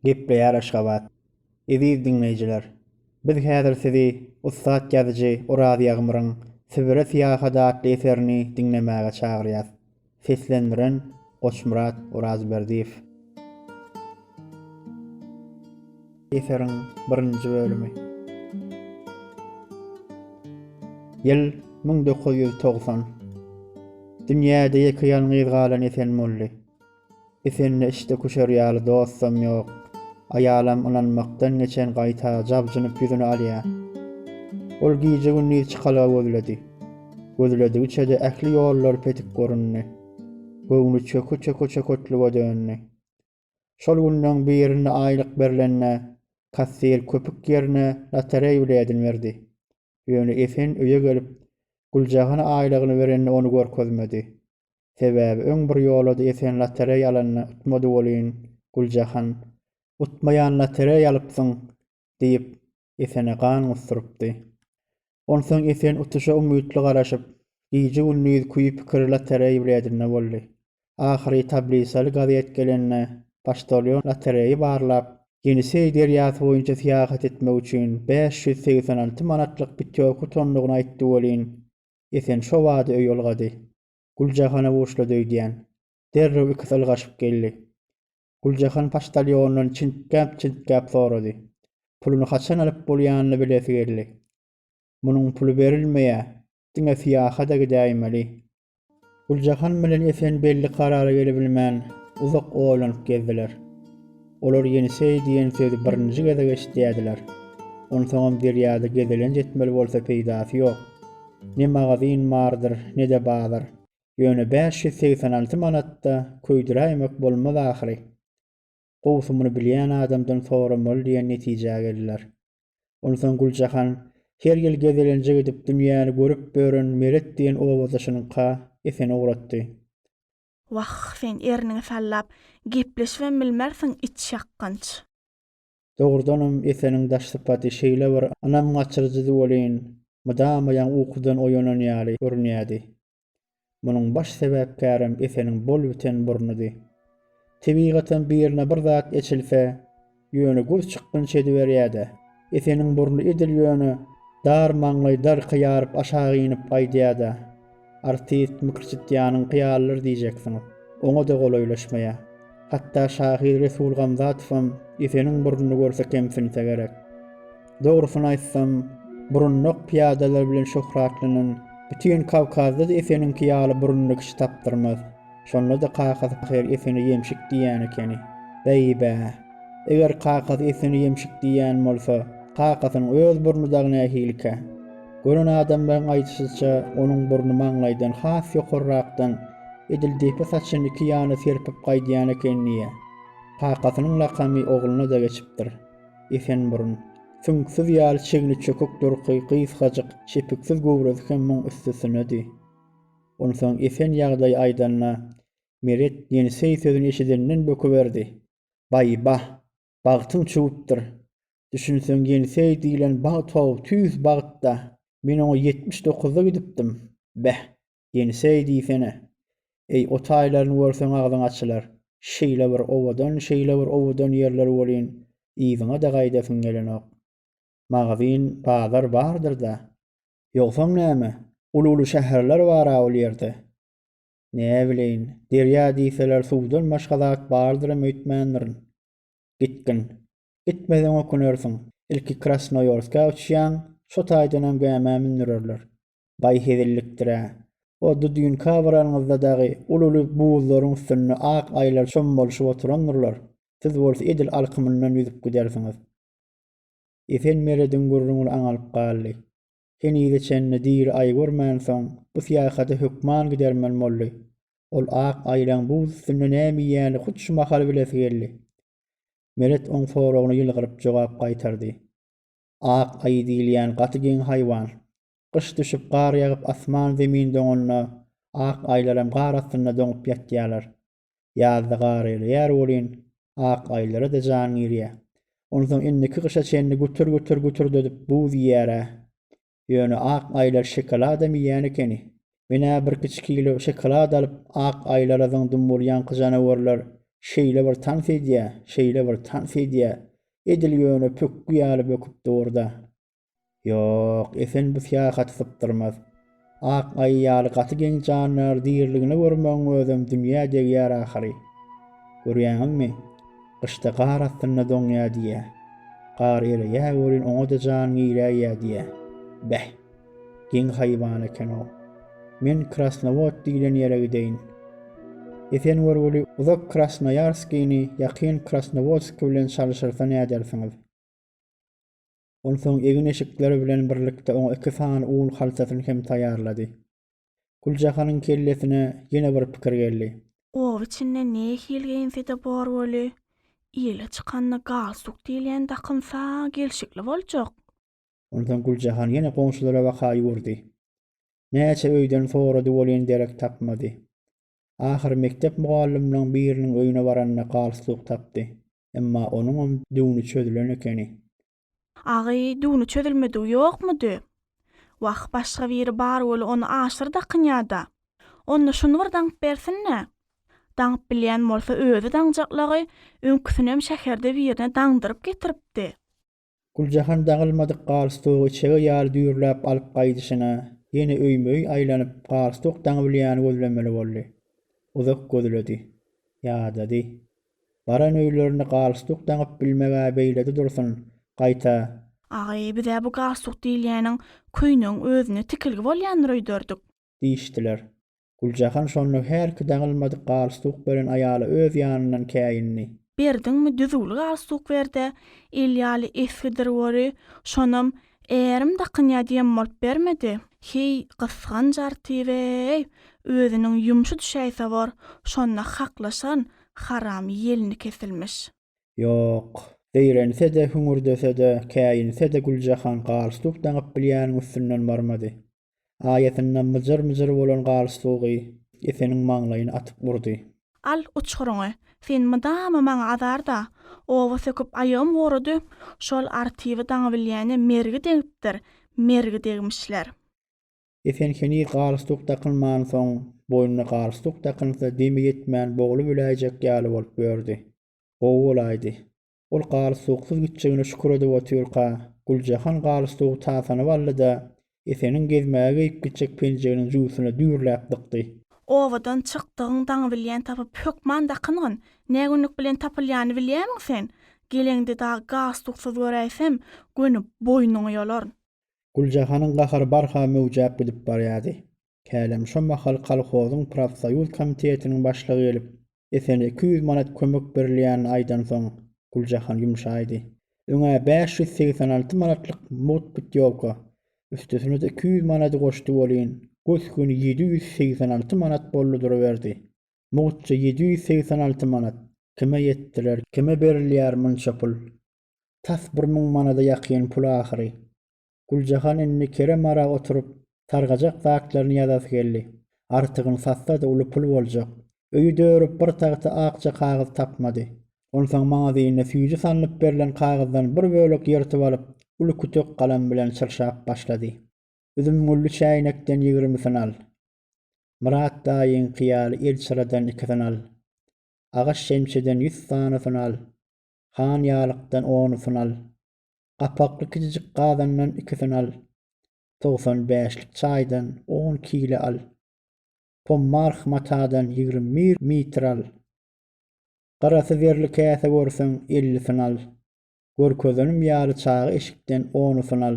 Gepleýär Aşgabat. Eziz diňleýjiler, biz häzir sizi ussat ýazyjy Oraz Ýagmyryň Sibire syýahat atly eserini diňlemäge çagyrýas. Seslendiren, Goçmyrat Orazberdiýew. Eseriň birinji bölümi. Ýyl müň dokuz ýüz togsan. Dünýäde ýeke-ýalňyz galan Esenmully. Efende işde küşer ýaly dostam ýok. Aýalam ynanmakdan geçen gaýta jabjynyp ýüzüni alýa. Ol gije-gündiz çykalga gözledi. Gözledigiçe-de ähli ýollar petik göründi. Göwni çöke-çöke-çöketlüge döndi. Şol günleň birinde aýlyk berlende kassir köpük ýerine lotereý biledini berdi. Ýöne Esen öýe gelip Güljahana aýlygyny berende ony görkezmedi. Sebäbi öň bir ýola-da esen lotereý alanda utmady welin, Güljahan, Utmaýan lotereý alypsyň! diýip, Esene gan gusdurypdy. Onsoň Esen utuşa umytly garaşyp, gije-gündiz küýi-pikiri lotereý biledinde boldy. Ahyry tablisaly gazet gelende, poçtalýon lotereýi barlap, Ýeniseý derýasy boýunça syýahat etmek üçin bäş ýüz segsen alty manatlyk pitýorka utandygyny aýtdy welin, Esen şobada öý ylgady. Güljahana buşlady öýdýän. Derrew ikisi ylgaşyp geldi. Güljahan poçtalýondan çintgäp-çintgäp sorady. Puluny haçan alyp bolýanyny bilesi geldi. Munuň puly berilmeýär, diňe syýahata gidäýmeli. Güljahan bilen Esen belli karara gelebilmän, uzak oýlanyp gezdiler. Olar Ýeniseý diýen sözi birinji gezek eşidýärdiler. Onsoňam derýada gezelenç etmeli bolsa peýdasy ýok. Ne magazin bardyr, ne-de bazar. Ýöne bäş ýüz segsen alty manat-da köýdüräýmek bolmaz ahyry. Gowusy muny bilýän adamdan soramaly diýen netijä geldiler. Onsoň Güljahan her ýyl gezelenje gidip dünýäni görüp ören Meret diýen obadaşynyňka Eseni ugratdy. Wah, sen erniňi sallap, gepleşibem bilmersiň, it şakganç. Dogrudanam, Eseniň daş sypaty şeýle bir ynam gaçyryjydy welin, mydama ýaňy ukudan oýanan ýaly görünýärdi. Munuň baş sebäpkärem Eseniň bol-biten burnudy. Tebigatam birine bir zat eçilse, Ýöne gür çykgynç ediberýä-de. Eseniň burny edil ýöne, dar maňlaý darka ýaryp aşak inip aýdýa-da. Artist mykyrçytýanyň kyýalydyr diýjeksiňiz. Oňa-da golaýlaşmaýa. Hatda şahyr Resul Gamzatowam Eseniň burnuny görse kemsinse gerek. Dogrusyny aýtsam, burunnak pyýadalar bilen şöhratlanan bütin Kawkazda-da Eseniňki ýaly burunly kişi tapdyrmaz. Şonda-da kakasy Pahyr Esene ýemşik diýýän ekeni. Beý-bä! Eger kakasy Esene ýemşik diýýän bolsa, kakasynyň öz burny dagy nähilikä? Gören adamlaryň aýdyşyça, onuň burny maňlaýdan has ýokarrakdan, edil depe saçyny iki ýana serpip gaýdýan eken diýýä. Kakasynyň lakamy ogluna-da geçipdir. Esenburun. Süňksüz ýaly çigni çökük durky, gysgajyk, çepiksiz göwresi hem muň üstesine-di. Onsoň Esen ýagdaýy aýdanda, Meret ýeniseý sözüni eşidenden böküberdi. Baý-bah, bagtyň çüwüpdir. Düşünseň ýeniseý diýlen bagt-ow, tüýs bagt-da. Men oňa ýetmiş dokuzda gidipdim. Beh, ýeniseý diýsene. Eý, o taýlaryny görseň agzyň açylar. Şeýle bir owadan, şeýle bir owadan ýerler welin, yzyňa-da gaýdasyň gelenok. Magazyn, bazar bardyr-da. Ýogsam näme, uly-uly şäherler bar-a ol ýerde. Näbileýin, derýa diýseler suwdan başga zat bardyram öýtmändirin. Gitgin. Gitmeseň ökünersiň. Ilki Krasnoýorskä uçýaň, şo taýdanam gämä mündürerler. Baý hezillikdir-ä. O Dudinka baranyňyzda dagy uly-uly buzlaryň üstünde ak aýylar çommalşyp oturandyrlar, siz bolsa edil alkymyndan ýüzüp gidersiňiz. Esen Merediň gürrüňini aňalyp galdy. Henize çenli diri aý görmänsoň, bu syýahata hökman gidermen boldy. Ol ak aýlaň buz üstünde näme iýýäni hut şu mahal bilesi geldi. Meret oň soragyna ýylgyryp jogap gaýtardy. Ak aýy diýilýän gaty geň haýwan. Gyş düşüp, gar ýagyp, asman-zemin doňanda, ak aýlaram gar astynda doňup ýatýarlar. Ýazda gar ereýär welin, ak aýlara-da jan girýär. Onsoň indiki gyşa çenli gütür-gütür gütürdedip buz iýýär-ä. Ýöne ak aýlar şokoladam iýýän ekeni. Men-ä birkiçi kilo şokolad alyp, ak aýlara zyňdym bolýanka janawarlar şeýle bir tans edýär, şeýle bir tans edýär, edil ýöne pökgi ýaly böküp dur-da. Ýok, Esen bu syýahaty sypdyrmaz. Ak aýy ýaly gaty geň jandar diriligine görmegiň özem dünýä degýär ahyry. Görýäňizmi, gyşda gar astynda doňýar diýýä. Gar ereýä welin oňa-da jan giräýýä diýýä. Beh! Geň haýwan eken-ow. Men Krasnowod diýlen ýere gideýin. Esen görgüli uzak Krasnoýarskini ýakyn Krasnowodski bilen çalyşyrsa nädersiňiz? Onsoň egin-eşikleri bilen birlikde oňa iki sany un haltasyny hem taýýarlady. Güljahanyň kellesine ýene bir pikir geldi. Oba içinde nähili geýinse-de bor weli, ile çykanda galstuk diýilýän dakynsa gelşikli boljak. Onsoň Güljahan ýene goňşularabaka ýüwürdi. Näçe öýden sorady welin derek tapmady. Ahyry mekdep mugallymlaryň biriniň öýüne baranda galstuk tapdy. Emma onuňam düwni çözülen ekeni. Agy, düwni çözülmedigi ýokmudy? Wah, başga biri bar weli ony aşdyr dakynýa-da. Onda şuny bir daňyp bersin-le. Daňyp bilýän bolsa özi daňjaklagy öňküsinem şäherde birine daňdyryp getiripdi. Güljahan daňylmadyk galstugy içege ýaly düýrläp alyp gaýdyşyna, ýene öýme-öý aýlanyp, galstuk daňybilýäni gözlemeli boldy. Uzak gözledi. Ýadady. Baran öýlerinde galstuk daňyp bilmeg-ä beýlede dursun, gaýta. Agy, biz-ä bu galstuk diýilýäniň köýnegiň özüne tikilgi bolýandyr öýderdik. diýişdiler. Güljahan şonda hälki daňylmadyk galstuk beren aýala öz ýanyndan käýindi. Berdiňmi düzüwli galstuk ber-de, il ýaly esgidir wori, şonam ärim dakynýa diýem bolup bermedi. Heý, gysganç artibe-eý, özüniň ýumşy düşäýse bor, şonda haklaşaryn, haram ýelini kesilmiş. Ýok, zeýrense-de, hüňürdese-de, käýinse-de Güljahan galstuk daňyp bilýäniň üstünden barmady. Aýasynda myjyr-myjyr bolan gar suwgy Eseniň maňlaýyny atyp urdy. Al, uçguryňy. Sen mydama maňa azar-da. Oba söküp aýagym gurudy. Şol Artyby daňy bilýäne mergi degipdir, mergi degmişler. Esen heniz galstuk dakynmansoň, boýnuna galstuk dakynsa demi ýetmän boglubiläýjek ýaly bolup ýördi. Gowy bolaýdy. Ol galyp-suwuksuz gitjegine şükür edip otyrka, Güljahan galyp-suwugy tasanyp aldy-da, Eseniň gezmäge geýip gitjek penjeginiň jübüsine düýrläp dykdy. Obadan çykdygyň daňy bilýän tapyp, hökman dakyn-gyn. Nägünlük bilen tapylýany bilýämiň sen? Geleňde dagy galyp-suwuksuz göräýsem, göni boýnuňy ýolaryn. Güljahanyň gahary barha möwjäp gidip barýardy. Hälem şo mahal kolhozyň profsoýuz komitetiniň başlygy gelip, Esene iki ýüz manat kömek berilýänini aýdansoň, Güljahan ýumşaýdy. Öň-ä bäş ýüz segsen alty manatlyk mugt putýowka, üstesine-de iki ýüz manady goşdy welin, gös-göni ýedi ýüz segsen alty manat boldy duruberdi. Mugtça ýedi ýüz segsen alty manat! Kime ýetdiler, kime berilýär munça pul? Tas bir müň manada ýakyn pul ahyry. Güljahan indi Kerem ara oturyp, sargajak zatlaryny ýazasy geldi. Artygyny satsa-da uly pul boljak. Öýi dörüp bir tagta akja kagyz tapmady. Onsoň magazinde süýji salnyp berlen kagyzdan bir bölek ýyrtyp alyp, uly kütek galam bilen çyrşap başlady. Üzümgülli çäýnekden ýigrimisini al. Myrat daýyňky ýaly elçyradan ikisini al. Agaç şemçeden ýüz sanysyny al. Han ýalykdan onusyn al. Gapakly kijijik gazandan ikisini al. Togsan bäşlik çaýdan on kile al. Pommarh matadan ýigrimi bir metr al. Gyrasy zerli käse görseň, ellisini al. Görkezenim ýaly çaga eşikden onusyn al.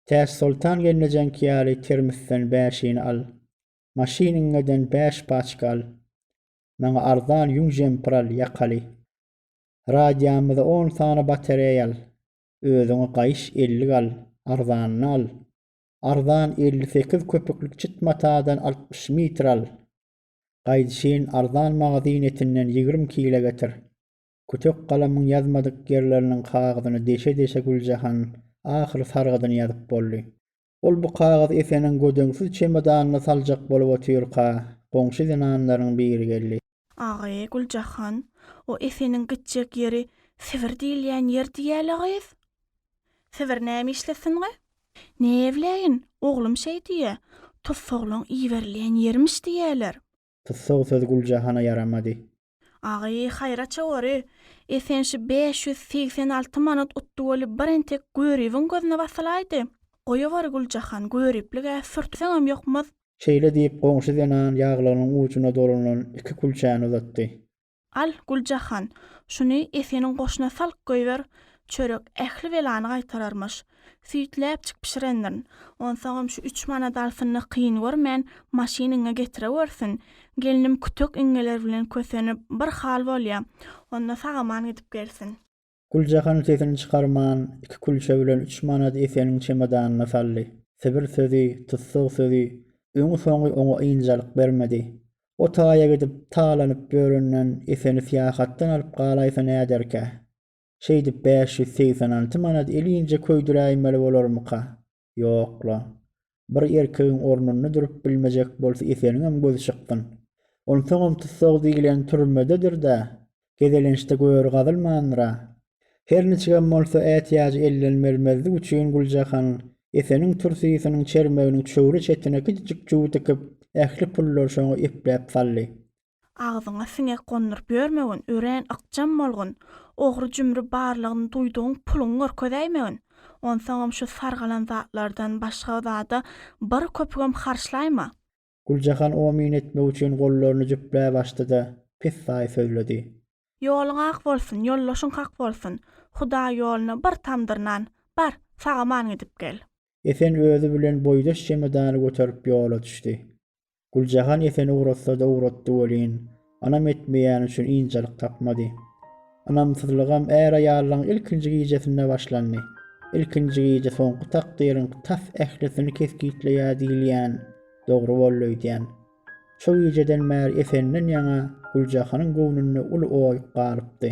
Täçsoltan gelnejeňki ýaly termisden bäşini al. Maşynyňňeden bäş paçka al. Maňa arzan ýüň jempir al, ýakaly. Radiýamyza on sany batareýa al. Özüňe gaýyş ellik al, arzanyny al. Arzan elli sekiz köpüklik çit matadan altmyş mitr al. Gaýdyşyn arzan magazyn etinden ýigrimi kile getir. Kütek galamyň ýazmadyk ýerleriniň kagyzyny deşe-deşe Güljahan ahyry sargydyny ýazyp boldy. Ol bu kagyzy Efeniň gödeňsiz çemodanyna saljak bolup otyrka, goňşy zenanlaryň biri geldi. Agy, Güljahan, o Efeniň gitjek ýeri Sibir diýilýän ýer diýýäl-ä gyz. Sibir näme işlesin-ä? Näbileýin, oglum şeý diýýä, tussaglaň iberilýän ýerimiş diýýäler. Tussag söz Güljahana ýaramady. Agy, haýraça gory. Esen şu bäş ýüz segsen alty manat utdy bolup bir entek Göribiň gözüne basylaýdy. Goýaweri Güljahan, Göriplig-ä sürtseňem ýokmaz. Şeýle diýip, goňşy zenan ýaglygynyň ujuna dolanylan iki külçäni uzatdy. Al, Güljahan, şuny Eseniň goşuna salk goýber, çörek ähli belany gaýtararmyş. Süýtläpjik bişirendirin. Onsoňam şu üç manady alsyn-da kyn görmän, maşynyňa getirewersin. Gelnim kütek iňňeler bilen kösenip, bir hal bolýa. Onda sag-aman gidip gelsin. Güljahan sesini çykarman, iki külçe bilen üç manady Eseniň çemodanyna saldy. Sibir sözi, tussag sözi, öňi-soňy oňa ynjalyk bermedi. O taýa gidip, talanyp ýörenden, Eseni syýahatdan alyp galaýsa näderkä? Şeýdip bäş ýüz segsen alty manady elinje köýdüräýmeli bolarmyka? Ýok-la. Bir erkegiň ornunda durup bilmejek bolsa Eseniňem gözi çykgyn. Onsoňam tussag diýlen türmededir-dä, gezelençde göri gazylmandyr-a. Her niçigem bolsa ätiýajy elden bermezlik üçin Güljahan Eseniň tursysynyň çermeginiň çöwre çetine kiçijik çuw dikyp, ähli pullary şoňa epläp saldy. Agzyňa siňek gonduryp ýörmegin, örän ykjam bolgun. Ogry-jümri barlygyny duýdugyň puluňy görkezäýmegin. Onsoňam şu sargalan zatlardan başga zada bir köpügem harçlaýma. Güljahan omyn etmek üçin gollaryny jüpläp açdy-da, pessaý sözledi. Ýoluň ak bolsun, ýoldaşyň hak bolsun. Hudaý ýoluna bir tamdyr nan, bar, sag-aman gidip gel. Esen özi bilen boýdaş çemodany göterip ýola düşdi. Güljahan Eseni ugratsa-da ugratdy welin, ynam etmeýäni üçin ynjalyk tapmady. Ynamsyzlygam är-aýallygyň ilkinji gijesinde başlandy. Ilkinji gije soňky takdyryň tas ählisini kesgitleýär diýilýän dogry boldy öýdýän. Şo gijeden bäri Efendinden ýaňa Güljahanyň göwnünde uly oý galypdy.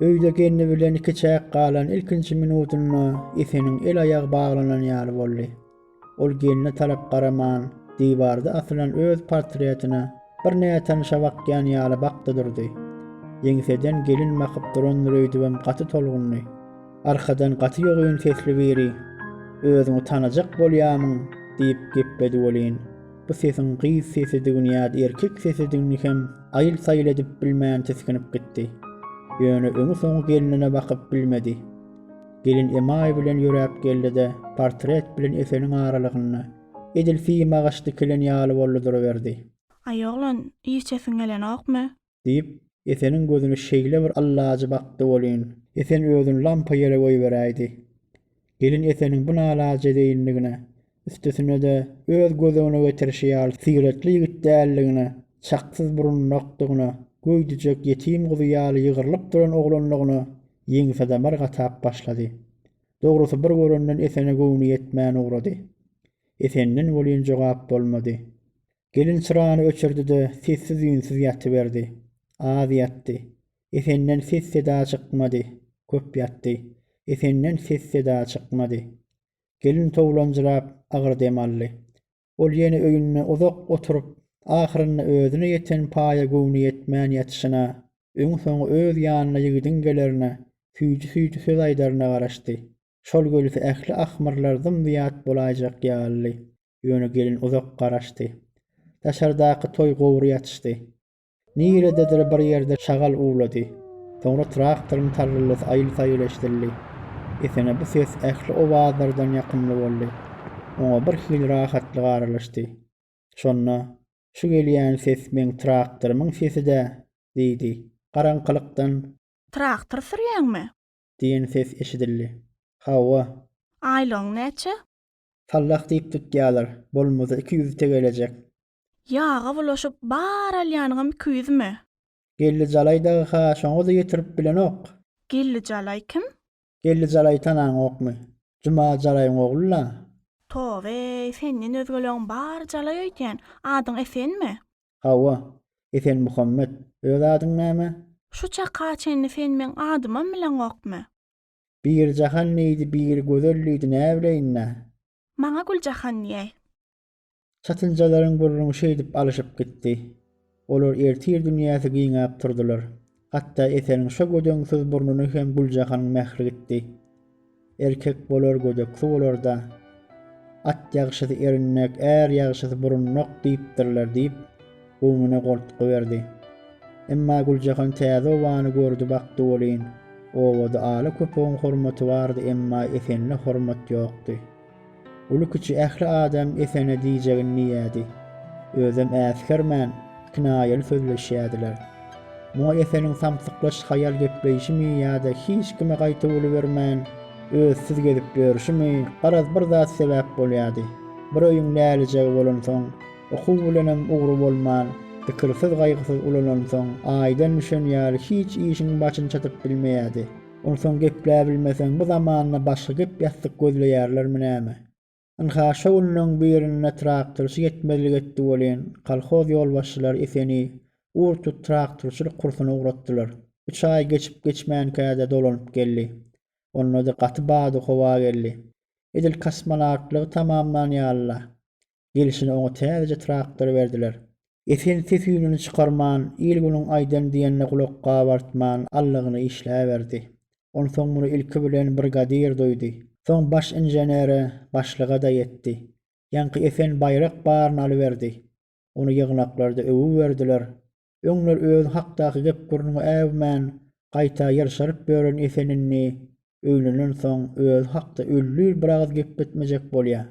Öýde gelni bilen ikiçäk galan ilkinji minudynda Efeniň el-aýagy baglanan ýaly boldy. Ol gelne tarap garaman, diwarda asylan öz portretine bir nätanyşa bakýan ýaly bakdy durdy. Ýeňseden gelin bakyp durandyr öýdübem gaty tolgundy. Arkadan gaty ýogyn sesli biri, Özüňi tanajak bolýamyň? diýip gepledi welin, bu sesiň gyz sesidigini ýa-da erkek sesidigini hem aýyl-saýyl edip bilmän tisginip gitdi. Ýöne öňi-soňy gelnine bakyp bilmedi. Gelin emaý bilen ýöräp geldi-de, portret bilen Eseniň aralygynda, edil sima agaç dikilen ýaly boldy duruberdi. Aý oglan, içesiň gelenokmy? diýip, Eseniň gözüni şeýle bir allajy bakdy welin, Esen özüni lampa ýere goýberäýdi. Gelin Eseniň bu nalaje zeýinligine, üstesine-de öz göz öňüne getirişi ýaly syratly ýigit däldigine, çaksyz burunlykdygyna, göýdüjek ýetim guzy ýaly ýygrylyp duran oglanlygyna ýeňsadamar gatap başlady. Dogrusy bir görenden Esene göwni ýetmän ugrady. Esenden welin jogap bolmady. Gelin çyrany öçürdi-de, sessiz-üýnsüz ýatyberdi. Az ýatdy. Esenden ses-seda çykmady. Köp ýatdy. Esenden ses-seda çykmady. Gelin towlanjyrap, agyr dem aldy. Ol ýene öýünde uzak oturyp, ahyrynda özüne ýeten paýa göwni ýetmän ýatyşyna, öňi-soňy öz ýanyna ýigidiň gelerine, süýji-süýji söz aýdaryna garaşdy. Şol gelse ähli ahmyrlar zym-zyýat bolaýjak ýalydy. Ýöne gelin uzak garaşdy. Daşardaky toý gowry ýatyşdy. Nirededir bir ýerde şagal uwlady. Soňra traktoryň tarryllasy aýyl-saýyl eşidildi. Esene bu ses ähli owazlardan ýakymly boldy. Oňa birhili rahatlyk aralaşdy. Şonda, Şu gelýän ses meň traktorymyň sesi-dä! diýdi. Garaňkylykdan. Traktor sürýäňmi? Diýen ses eşidildi. Hawa. Aýlygyň näçe? Sallah diýip tutýalar. Bolmasa iki ýüzi tegelejek. Ýaga bulaşyp bar alýanyňam iki ýüzmi? Geldi Jalaý dagy-ha şoňa-da ýetirip bilenok. Geldi Jalaý kim? Geldi Jalaýy tanaňokmy? Juma Jalaýyň ogly-la. Toba-eý, senden özgeleň bary Jalaý öýdýän. Adyň Esenmi? Hawa, Esenmuhammet. Öz adyň näme? Şu çaka çenli sen meň adymam bileňokmy? Biri Jahan diýdi, biri Gözel diýdi, näbileýin-dä. Maňa Güljahan diýäý. Çatynjalaryň gürrüňi şeýdip alyşyp gitdi. Olar ertir dünýäsi giňäp turdular. Hatda Eseniň şo gödeňsiz burnuny hem Güljahanyň mähri gitdi. Erkek bolar gödeksi bolar-da. At ýagşysy erinmek, är ýagşysy burunmak diýipdirler diýip, göwnüne goltgy berdi. Emma Güljahan täze obany gördi bakdy welin, obada ala köpegiň hormaty bardy emma Esenine hormat ýokdy. Uly-kiçi ähli adam Esene diýjegini diýýädi. Özem äsgermän, kinaýaly sözleşýädiler. Muňa Eseniň samsyklaş haýal gepleýşimi ýa-da hiç kime gaýta bolubermän, özsüz gezip ýörşümi, garaz bir zat sebäp bolýady. Bir öýüň lälijegi bolansoň, Okuw bilenem ugry bolman, pikirsiz-gaýgysyz ulanansoň, aýdan düşen ýaly hiç işiň başyny çatyp bilmeýärdi. Onsoň gepläbilmeseň, bu zamanda başga gep-ýassyk gözleýärlermi näme? Ynha, şo günleň birinde traktorçy ýetmezlik etdi welin, kolhoz ýolbaşçylary Eseni ur-tut traktorçylyk kursuna ugratdylar. Üç aý geçip-geçmänkä-de dolanyp geldi. Onda-da gaty bady howa geldi. Edil kosmonawtlygy tamamlan ýaly-la. Gelşine oňa täzeje traktor berdiler. Esen ses-üýnüni çykarman, il-günüň aýdan-diýenine gulak gabartman, allygyny işläberdi. Onsoň muny ilki bilen brigadir duýdy. Soň baş inženere, başlyga-da ýetdi. Ýaňky Esen baýrak baryny alyberdi. Ony ýygnaklarda öwüberdiler. Öňler özi hakdaky gep-gürrüňe äwmän, gaýta ýylşaryp ýören Esen indi öýlenensoň özi hakda öllür biragyz gepletmejek bolýar.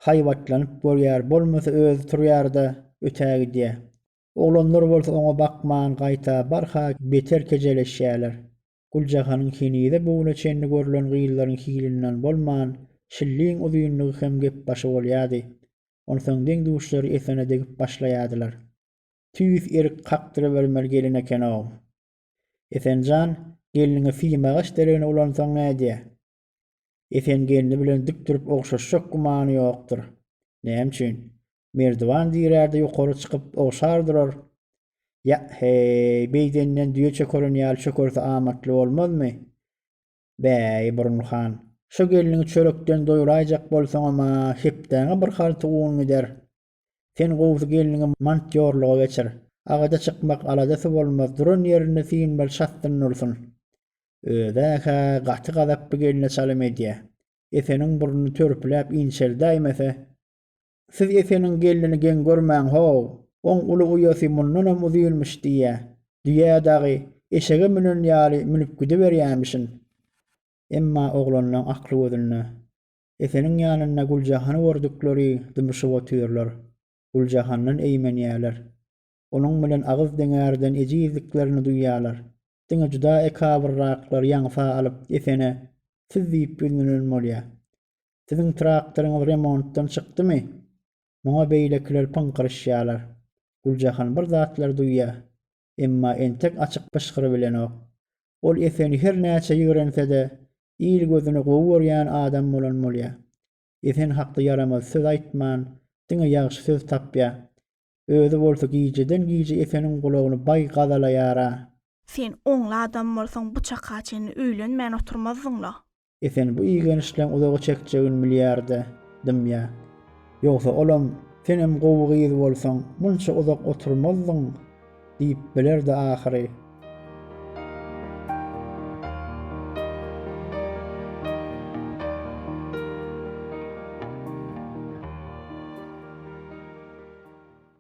Haýbatlanyp görýär, bolmasa özi turýar-da, ötägidýär. Oglanlar bolsa oňa bakman, gaýta barha beter kejeleşýärler. Güljahanyň henize bu güne çenli görlen gyzlaryň hilinden bolman, şilliň uzynlygy hem gepbaşy bolýardy. Onsoň deň-duşlary Esene degip başlaýardylar. tüýs erik kakdyrybermeli gelin eken-ow. Esen jan, gelniňi syýmagyş deregine ulansaň nädýä? Esen gelni bilen dik durup ogşaşjak gümany ýokdur. Näme üçin? Merdiwan dirärde ýokary çykyp ogşar durar. Ýa-heý, beýdenden düýe çökeren ýaly çökerse amatly bolmazmy? Bäý, Burun han, şo gelniňi çörekden doýuraýjak bolsaňam-a hepdäňe bir halta un gider. Sen gowusy gelniňi mantýorlyga geçir. Agaja çykmak aladasy bolmaz, duran ýerinde synmaly çatdyn dursun. Özi-hä gaty gazaply gelne çalym edýä. Eseniň burny törpüläp inçeldäýmese. Siz Eseniň gelnini geň görmäň-how! Oň uly uýasy mundanam uzynmyş diýýä. Düýä dagy, eşege münen ýaly münüp gidiberýämişin. Emma oglanlaň akly gözünde. Eseniň ýanynda Güljahany gördükleri dymyşyp otyrlar. Güljahandan eýmenýärler. Onuň bilen agyz deňärden ejizliklerini duýýarlar. Diňe juda ekabyrraklar ýaňsa alyp Esene siz diýip ýüzlenen bolýar. Siziň traktoryňyz remontdan çykdymy? Muňa beýlekiler pyňkyryşýarlar. Güljahan bir zatlar duýýar. emma entek açyk pyşgyry bilenok. Ol Eseni her näçe ýigrense-de, il gözüne gowy görýän adam bolan bolýa. Esen hakda ýaramaz söz aýtman, diňe ýagşy söz tapýa. Özi bolsa gijeden-gije Eseniň gulagyny baý gazalaýar-a. Sen oňly adam bolsaň bu çaka çenli öýlenmän oturmazdyň-la. Esen bu igenişleň uzaga çekjegini bilýärdi, dymýa. Ýogsa olam, Senem gowy gyz bolsaň, munça uzak oturmazdyň diýip bilerdi ahyry.